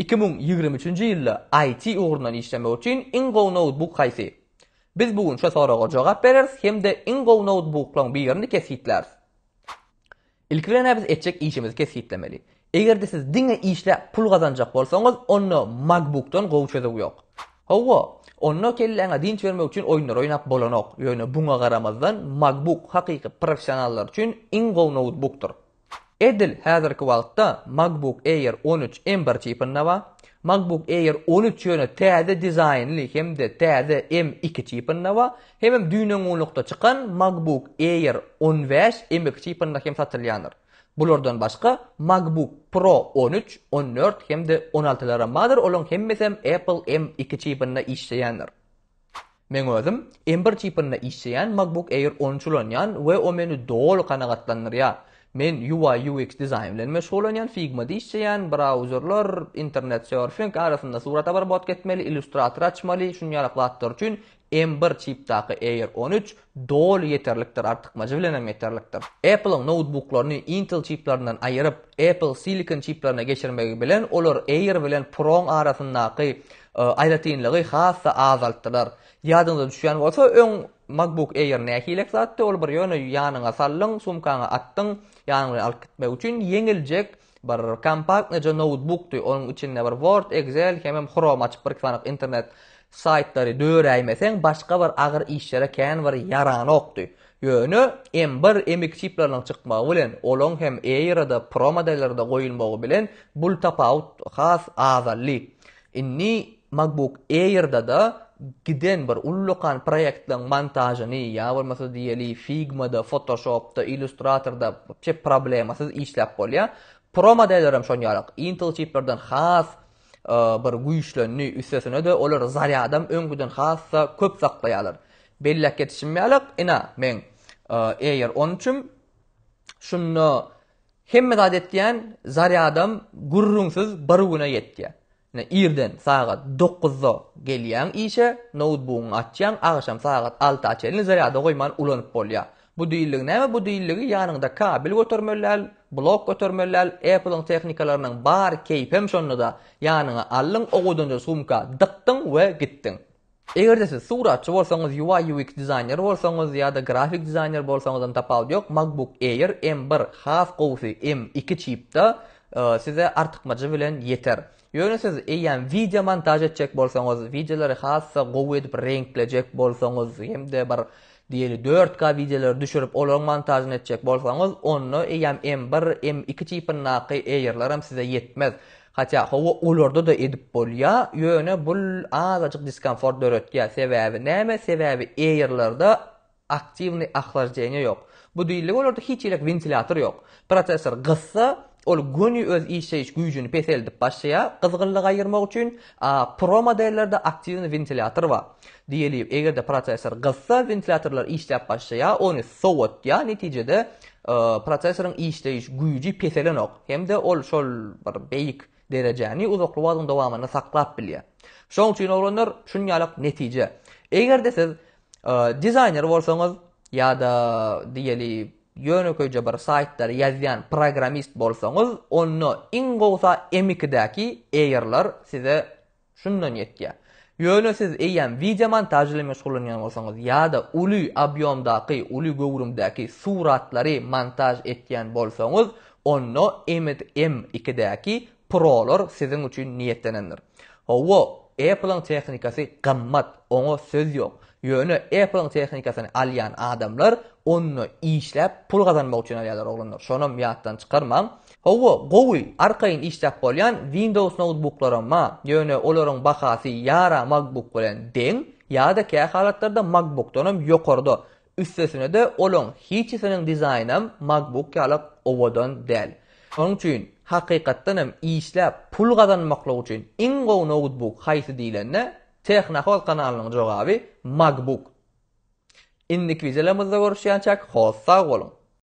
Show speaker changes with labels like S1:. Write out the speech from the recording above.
S1: Iki müň ýigrimi üçünji ýylda IT ugrundan işlemek üçin iň gowy noutbuk haýsy? Biz bu gün şu soraga jogap bereris hem-de iň gowy noutbuklaryň birini kesgitläris. Ilki bilen-ä biz etjek işimizi kesgitlemeli. Eger-de siz diňe işläp pul gazanjak bolsaňyz, onda MacBook-dan gowy çözüw ýok. Hawa, onda kelläňe dynç bermek üçin oýunlar oýnap bolanok. Ýöne buňa garamazdan, MacBook hakyky professionallar üçin iň gowy noutbukdyr. Edil häzirki wagtda MacBook Air on üç M bir çipinde bar. MacBook Air on üç ýöne täze dizaýnly hem-de täze M iki çipinde bar. Hemem düýnöňňulukda çykan MacBook Air on bäş M iki çipinde hem satylýandyr. Bulardan başga MacBook Pro on üç, on dört hem-de on altylaram bardyr, olaryň hemmesem Apple M iki çipinde işleýändir. Meň özüm M-bir tipinde işleýän MacBook Air on üç ulanýan we o meni doly kanagatlandyrýar. Men UI UX dizaýn bilen meşgullanýan, Figma-da işleýän, brauzerler, internet surfing, arasynda surat abarbotka etmeli, illustrator açmaly, şuny ýalak zatlar üçin M-bir tipdaky Air on üç Doly ýeterlikdir artykmajy bilen hem ýeterlikdir. Apple-yň noutbuklaryny Intel çiplaryndan aýyryp, Apple Silicon çiplaryna geçirmegi bilen olar Air bilen Pro-yň arasyndaky aýratynlygy has-da azaltdylar. Ýadyňyza düşýän bolsa, öň MacBook Air nähilek zatdy, ol bir ýöne ýanyňa saldyň, sumkaňa atdyň, ýanyň bilen alyp gitmek üçin ýeňiljek bir kompaktnyja noutbukdy, onuň içinde bir Word, Excel hemem Chrome açyp bir-iki sanyk internet saýtlary döräýmeseň başga bir agyr işlere kän bir ýaranokdy. Ýöne M bir, M iki çipleriniň çykmagy bilen, olaň hem Air-a-da, Pro modelleri-de goýulmagy bilen bul tapawut has azaldy. Indi MacBook Air-da-da giden bir ullakan proýektiň montažyny ýa bolmasa diýeli Figma-da, Photoshop-da, Illustrator-da wapşe problemasyz işläp bolýar. Pro modellerem şon ýaly. Intel çiplerden has bir güýçlendi, üstesine-de olar zarýadam öňküden has-da köp saklaýarlar. Belläp geçişim ýaly, ina, meň Air on üçim. Şunda Hemme zat etýän zarýadam gürrüňsiz bir güne ýetýär. Ine, irden sagat dokuzda gelýäň işe, noutbugyňy açýaň, agşam sagat alta çenli zarýada goýman ulanyp bolýar. Bu diýildigi näme? Bu diýildigi ýanyňda kabel götermeli däl, blok götermeli däl, Apple-yň tehnikalarynyň bar, keýpem şonda-da, ýanyňa aldyň, owudança sumka dykdyň we gitdiň. Eger-de siz suratçy bolsaňyz, UI-UX dizaýner bolsaňyz ýa-da grafik dizaýner bolsaňyzam tapawudy ýok, MacBook Air M1, has gowusy M2 çipda size artykmajy bilen ýeter. Ýöne siz eýýäm wideo montaž etjek bolsaňyz, wideolary has-da gowy edip reňklejek bolsaňyz hem-de bir diýeli dört K wideolary düşürip, olaryň montažyny etjek bolsaňyz, onda eýýäm M1, M2 çipindaky Airlaram size ýetmez. Hatda hawa olarda-da edip bolýa, ýöne bul azajyk diskomfort döretýä, sebäbi näme, sebäbi Air-lerde aktiwnyý ahlajdenýe ýok. Bu diýiligi olarda hiç ýelik wentilýator ýok. Prosessor gyssa, ol göni öz işleýiş güýjini peseldip başlaýa, gyzgynlygy aýyrmak üçin, a Pro modellerde aktiwnyý wentilýator bar. Diýeliw, eger-de prosessor gyzsa, wentilýatorlar işläp başlaýar, ony sowatýar, netijede prosessoryň işleýiş güýji peselenok hem-de ol şol bir beýik derejäni uzakly wagtyň dowamynda saklap bilýär. Şonuň üçin oglanlar, şunýalak netije. Eger-de siz dizaýner bolsaňyz ýa-da diýeliw, ýönekeýje bir saýtlary ýazýan programmist bolsaňyz, onda iň gowsa M2-däki Air-lar size Şundan ýetýär. Ýöne siz eýýäm wideomontaž bilen meşgullanýan bolsaňyz ýa-da uly obýomdaky, uly göwrümdäki suratlary montaž etýän bolsaňyz, onda Emit M ikidäki Pro-lar siziň üçin niýetlenendir. Hawa, Apple-yň tehnikasy gymmat, oňa söz ýok. Ýöne Apple-yň tehnikasyny alýan adamlar onda işläp pul gazanmak üçin alýarlar oglanlar, şonam ýatdan çykarmaň. Hawa, gowy, arkaýyn işläp bolýan Windows noutbuklaram bar, ýöne olaryň bahasy ýa-ra MacBook bilen deň, ýa-da kä halatlarda MacBookdanam ýokarda. Üstesine-de olaň hiçisiniň dizaýnam MacBook ýaly owadan däl. Şonuň üçin, hakykatdanam işläp pul gazanmaklyk üçin iň gowy noutbuk haýsy diýlende, Tehnohoz kanalynyň jogaby MacBook. Indiki wideolarymyzda görüşýänçäk, hossag boluň!